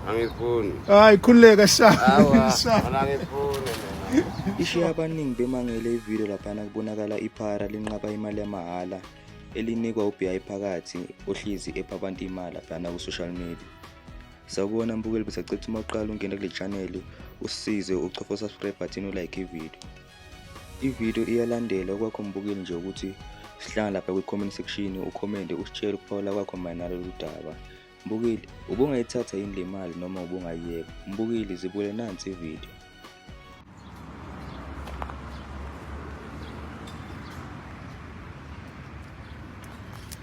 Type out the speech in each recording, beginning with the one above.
angifuni hayi khululeka ishiya abaningi bemangele ividiyo laphana kubonakala iphara linqaba imali yamahhala elinikwa uBI phakathi ohlizi epha abantu imali laphana ku-social media sawubona mbukeli besacetha uma uqala ungena kule chaneli usisize ucofa usubscribe button ulike ividiyo Ividiyo iyalandela okwakho mbukeli nje ukuthi sihlala lapha kwi-comment section ukhomente usitshele ukuphawula kwakho mayelana nalolu daba. Mbukeli, ubungayithatha yini le mali noma ubungayiyeka? Mbukeli, zibule nansi ividiyo.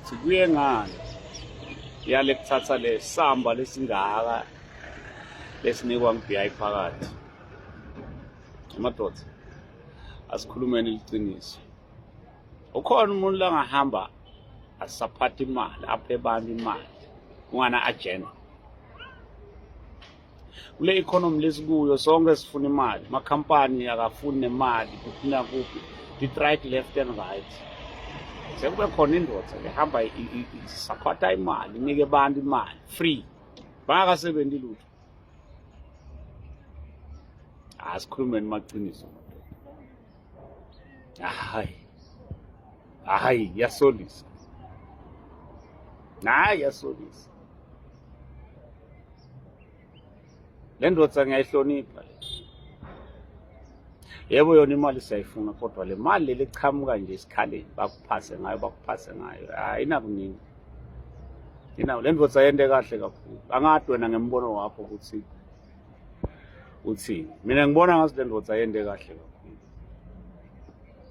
Sibuye ngani yale kuthatha le samba lesingaka lesinikwa ngibiyayi phakathi amadoda asikhulumeni liqiniso ukhona umuntu langahamba asaphatha imali aphe abantu imali ungana agenda kule economy lesikuyo sonke sifuna imali amakhampani akafuni nemali kuphina kuphi detright left and right sekube khona indoda ehamba isakhwatha imali inike abantu imali free bangakasebenzi lutho asikhulumeni maqiniso hayi hayi yasolisa hayi yasolisa le ndoda ngiyayihlonipha yebo yona imali siyayifuna kodwa le mali leli qhamuka nje esikhaleni bakuphase ngayo bakuphase ngayo ayinakuningi yinawo le ndoda yente kahle kakhulu angathi wena ngembono wakho ukuthi uthini mina ngibona ngathi le ndoda yente kahle kakhulu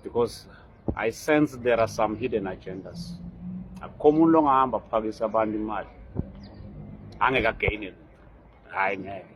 because I sense there are some hidden agendas. Akukho umuntu ongahamba phakisa abantu imali. Angeke againe. Hayi ngeke.